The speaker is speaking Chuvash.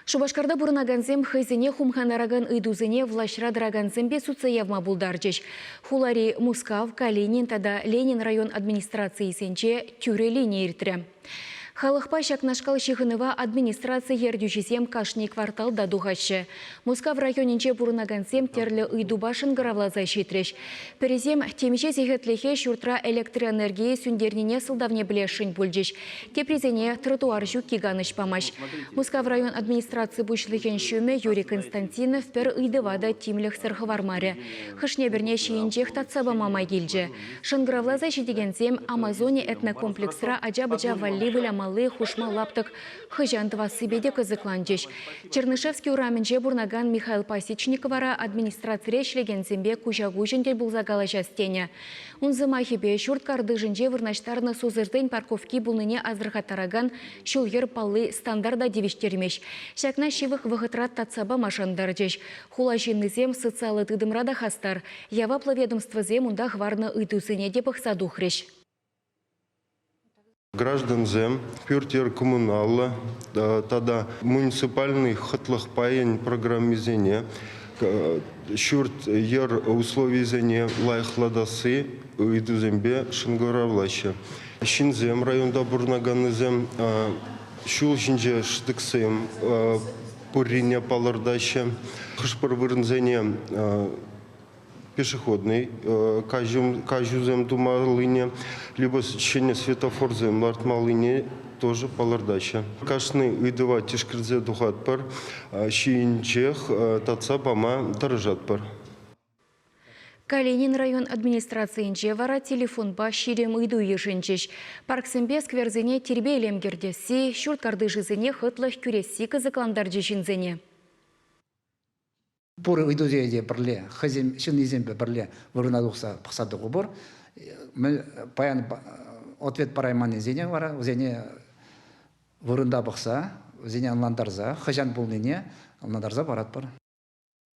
Шупашкарта пурӑнакансем хӑйсене хумхантаракан ыйтусене влаҫра тӑракансемпе сутса явма пултарчӗҫ. Хулари Мускав, Калинин тата Ленин район администрацийӗсенче тӳрӗ лини иртрӗ. Халӑхпа ҫакнашкал ҫыхӑнӑва администраци ертӳҫисем кашни кварталта тухаҫҫӗ. Мускав районӗнче пурӑнакансем тӗрлӗ ыйтупа шӑнкӑравласа ҫитрӗҫ. Пӗрисем темиҫе сехетлӗхе ҫуртра электроэнергие сӳнтернине сӑлтавне пӗлесшӗн пулчӗҫ, теприсене тротуар ҫукки канӑҫ памасть. Мускав район администраци пуҫлӑхӗн ҫумӗ Юрий Константинов пӗр ыйтӑва та тимлӗхсӗр хӑвармарӗ. Хӑшне-пӗрне ҫийӗнчех татса пама май килчӗ. Шӑнкӑравласа ҫитекенсем Амазони этнокомплексра ача-пӑча валли вылямалли хушма лаптӑк Хӑҫан тӑвассипе те кӑсӑкланчӗҫ. Чернышевский урамӗнче пурӑнакан Михаил Пасечник вара администрацире ӗҫлекенсемпе куҫа-куҫӑн тӗл пулса калаҫас тенӗ. Ун сӑмахӗпе, ҫурт картишӗнче вырнаҫтарнӑ сусӑрсен парковки пулнине асӑрхаттаракан ҫул-йӗр палли стандарта тивӗҫтермест. Ҫакна ҫывӑх вӑхӑтра татса памашӑн тӑрчӗҫ. Хула ҫыннисем социаллӑ тытӑмра та хастар. Яваплӑ ведомствӑсем унта хӑварнӑ ыйтусене те пӑхса тухрӗҫ. Граждансем пӳрт-йӗр коммуналлӑ тата муниципальный хӑтлӑх пайӗн программисене ҫурт-йӗр условийӗсене лайӑхлатасси ыйтусемпе шӑнкӑравлаҫҫӗ. Ҫынсем, районта пурӑнаканнисем ҫул ҫинче шӑтӑксем пуррине палӑртаҫҫӗ. Хӑш-пӗр вырӑнсене пешеходнӑй каҫусем тумаллине, либо ҫӗнӗ светофорсем лартмаллине тоже палӑртаҫҫӗ. Кашни ыйтӑва тишкерсе тухатпӑр, ҫийӗнчех татса пама тӑрӑшатпӑр. Калинин район администрацийӗнче вара телефонпа ҫирӗм ыйту йышӑнчӗҫ. Парксемпе скверсене тирпей-илем кӗртесси, ҫурт картишӗсене хӑтлӑх кӳресси кӑсӑклантарчӗ ҫынсене. пур ыйтусене те пӗрле хӑйсен ҫыннисемпе пӗрле вырӑна тухса пӑхса тухӑпӑр пур паян ответ парайманнисене вара вӗсене вырӑнта пӑхса вӗсене ӑнлантарса хӑҫан пулнине ӑнлантарса паратпӑр